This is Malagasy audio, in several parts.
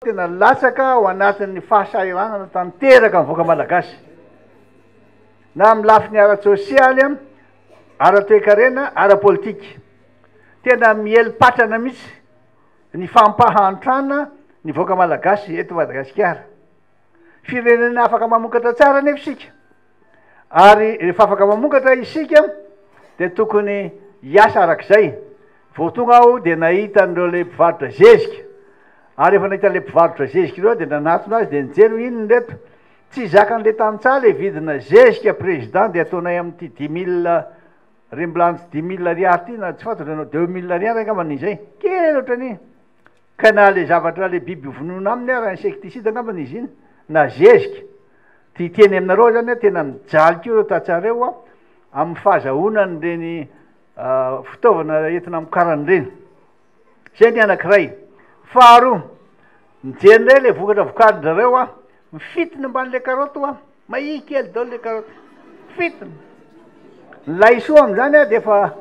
Tena latsaka ao anatin'ny fahasahiranana tanteraka ny vahoaka malagasy, na amin'ny lafiny ara-tsosialy, ara-toekarena, ara-politika. Tena miely patrana mihitsy ny fampahantrana ny vahoaka malagasy eto Madagasikara. Firenena afaka mamokatra tsara anefa isika. ary rehefa afaka mamokatra isika dia tokony hiasa arak'izay vao tonga aho dia nahita an'ireo le mpivarotra zezika ary efa nahita le mpivarotra zezika ireo dia nanatona azy dia nijery hoe inona reto tsy zakan'le tantsaha le vidina zezika président dia ataonay amin'ity dix mille remblance dix mille ariary ity na tsy fantatro ianao deux mille ariary angambany izay kely ohatrany Ka na le zavatra le biby vonoina aminy ara insecticide angamba no izina na zezika de hiteny aminareo zany a tena mijaly ko reo tatsareo a aminy fahazahoana any reny fitaovana entina amokarany reny zay ny anakiray faharoa mijery ndray le vokatra vokarin-drareo a mifitiny ambany le karoty oa Mahia kely daolo le karoty. Fito. Ny laisoa amin'izany ary dia efa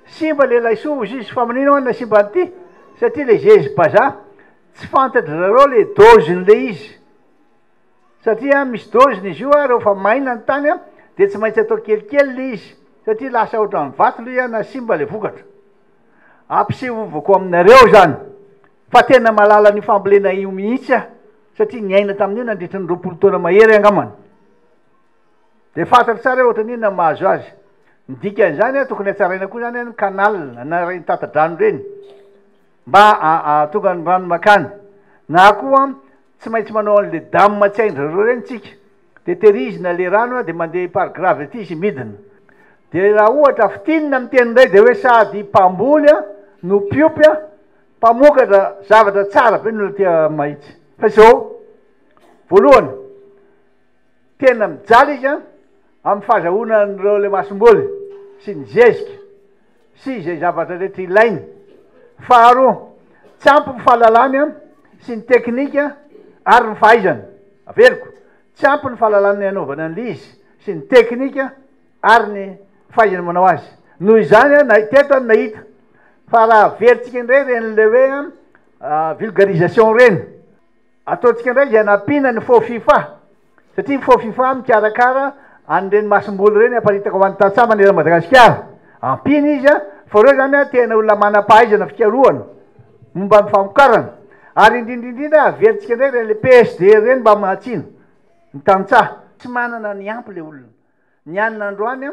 simba le laisoa hozy izy fa maninona ho'a nasimba an'ity satria le zezy bazaha tsy fantatry zareo le dozin'le izy satria misy doziny izy io ary rehefa maina ny tany dia tsy maintsy atao kelikely le izy satria lasa ohatran'ny vato le na simba le vokatra. Ampisevovako aminareo izany fa tena mahalala an'io fambolena io mihitsy aho. satria niaina tamin'io nandritra ny roapolo taona mahery angambany dia fantatro tsara hoe ohatran'ny inona ny mahazo azy. Ny dikan'izany a, tokony hatsaraina koa izany a, ny canal na ireny tata-drano ireny mba ahatonga ny rano makany, na koa tsy maintsy manao an'ilay dam tsy hain-dry zareo ireny isika, dia tehirizina ilay rano a, dia mandeha par gravity izy midina. Dia raha ohatra fintinina amin'ny teny indray dia hoe sady mpamboly a no mpiompy a, Mpamokatra zavatra tsara be ny olona aty Mahitsy. Fa izao, voalohany, tena mijaly izy amin'ny fahazahoana an'ireo ilay masomboly sy ny zezika sy izay zavatra rehetra ilainy. Faharoa, tsy ampy ny fahalalany sy ny teknika ary ny fahaizany. Averiko, tsy ampy ny fahalalany anaovany an'ilay izy sy ny teknika. ary ny fahaizany manao azy. Noho izany aho na teto aho nahita fa raha averintsika indray ireny le hoe vulgarisation ireny, ataontsika indray izay anampiana ny faux fifa, satria ny faux fifa mikarakara an'ireny masomboly ireny haparitaka ho an'ny tantsaha manerana an'i Madagasikara. Ampiana izy fa ireo izany tena olona manam-pahaizana fikarohana momba ny famokarana. Ary indrindra indrindra averintsika indray ireny le PSD ireny mba mahatsino ny tantsaha. Tsy manana ny ampy le olona. Ny hanina androany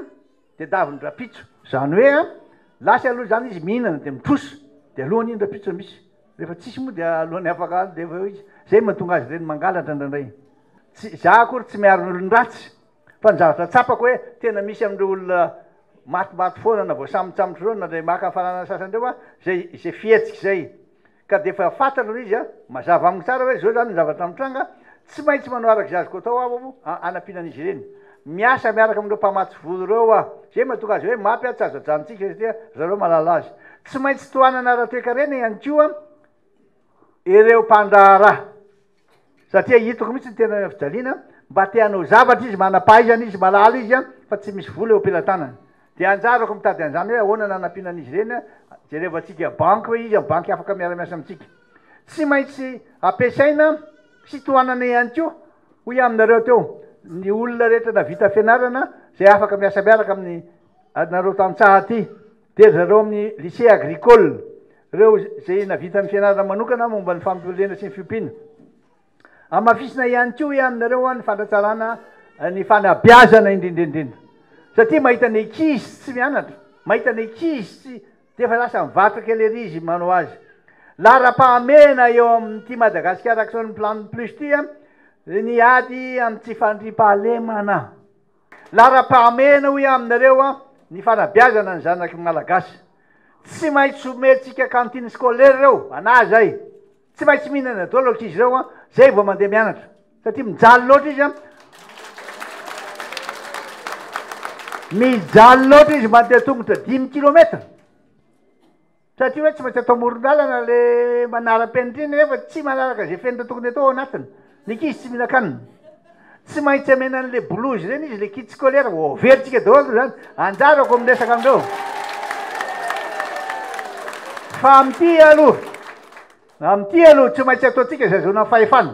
dia davon-dRampitso. Izany hoe lasa aloha izany izy mihinana dia mitrosa dia alohan' iny Rampitso raha misy. Rehefa tsisy moa dia alohan'ny afaka andro dia efa eo izy. Izay no mahatonga azy ireny mangalatra indraindray. Tsy izaho akory tsy miaro ny olon-dratsy fa ny zavatra tsapako hoe tena misy amin'ireo olona matimaty foana na voasambontsambotra ireo na dia maka fananana sasany ireo an, izay izay fihetsika izay. Ka dia efa fantatra ilay izy an! Mazava amiko tsara hoe izao izany ny zavatra mitranga, tsy maintsy manao araka izay azoko atao aho an, hanampiana an'izy ireny. Miasa miaraka amin'ireo mpamatsy vola ireo aho. Izay no mahatonga azy hoe mapy an, tsy azo ajanontsika izy satria ry zareo mahalala azy. Tsy maintsy tohanana ara-toekarena ihany koa ireo mpandraharaha. Satria hitako mihitsy ny tena fijaliana, mba te hanao zavatra izy, manam-pahaizana izy, malala izy, fa tsy misy vola eo am-pelatanany. Dia anjarako mitady an'izany hoe ahoana no hanampiana an'izy ireny, jerevantsika banky hoe iza ny banky afaka miara-miasa amintsika. Tsy maintsy ampiasaina sy tohanana ihany koa, hoy aho aminareo teo, ny olona rehetra navita fianarana izay afaka miasa miaraka amin'ity anareo tantsaha ity. Dia ry zareo amin'ny lycée agricole, ireo izay nahavita ny fianarana manokana momba ny fambolena sy ny fiompiana. Hamafisina ihany koa hoe aminareo ny fanatsarana ny fanabeazana indrindra indrindra. Satria mahita ny ankizy tsy mianatra, mahita ny ankizy tsy dia efa lasa mivarotra kely ery izy manao azy. Laharam-pahamehana eo amin'ity Madagascar Action Plan Plus ity ny ady amin'ny tsy fandriampahalemana. Laharam-pahamehana hoy aho aminareo an, ny fanabeazana ny zanaky ny Malagasy. Tsy maintsy omentsika cantine scolaire ireo ana izay. Tsy maintsy mihinana daholo ankizy ireo an, izay vao mandeha mianatra. Satria mijaly loatra izy an. Mijaly loatra izy mandeha tongotra dimy kilomètre. Satria hoe tsy maintsy atao amoron-dalana le manaram-penitra iny nefa tsy manaraka izay fenitra tokony atao ao anatiny. Ny ankizy tsy mihinan-kanina. Tsy maintsy amena an'le bolozy ireny izy, le kit scolaire, vao averintsika daholo aloha izany. Anjarako miresaka amin'ireo. Fa amin'ity aloha, amin'ity aloha tsy maintsy ataontsika izay azahoana fahefana.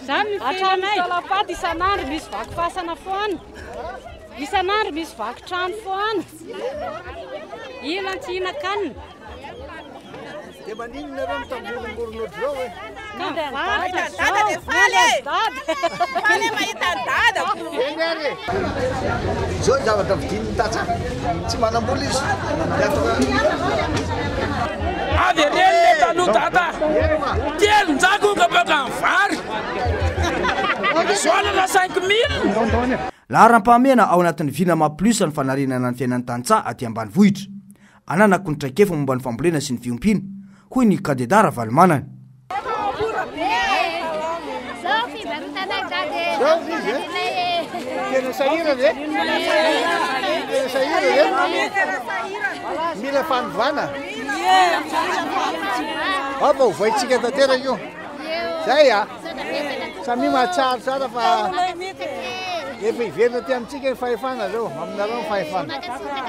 Izany no fiainanay. Hatramin'ny salam-paty isan'andro misy vaky fasana foana, isan'andro misy vaky trano foana, ilan tsy hihinan-kanina. Dia maninona ireo mitamboringorin ohatr'izao e? Ka mivarotra izao, miandry an'i dada e! Faly e mahita an'i dada! Eny ary e! Izao ny zavatra vidin'ny tantsaha. Tsy manam-bola izy. Avy ery eny le taloha dada. Telonjato ka baka ny vary. Gasoil-na cinq mille. Laharam-pahamehana ao anatin'ny Vinama Plus ny fanarenana ny fiainan'ny tantsaha aty ambanivohitra. ananako ny traikefa momba ny fambolena sy ny fiompiana, hoy ny kandidà Ravalomanana. Mila fanovana. Apa ho vaintsika tanteraka io. Zay a. Samia mahatsaro tsara fa efa hiverina aty amintsika ny fahefana zao, aminareo ny fahefana.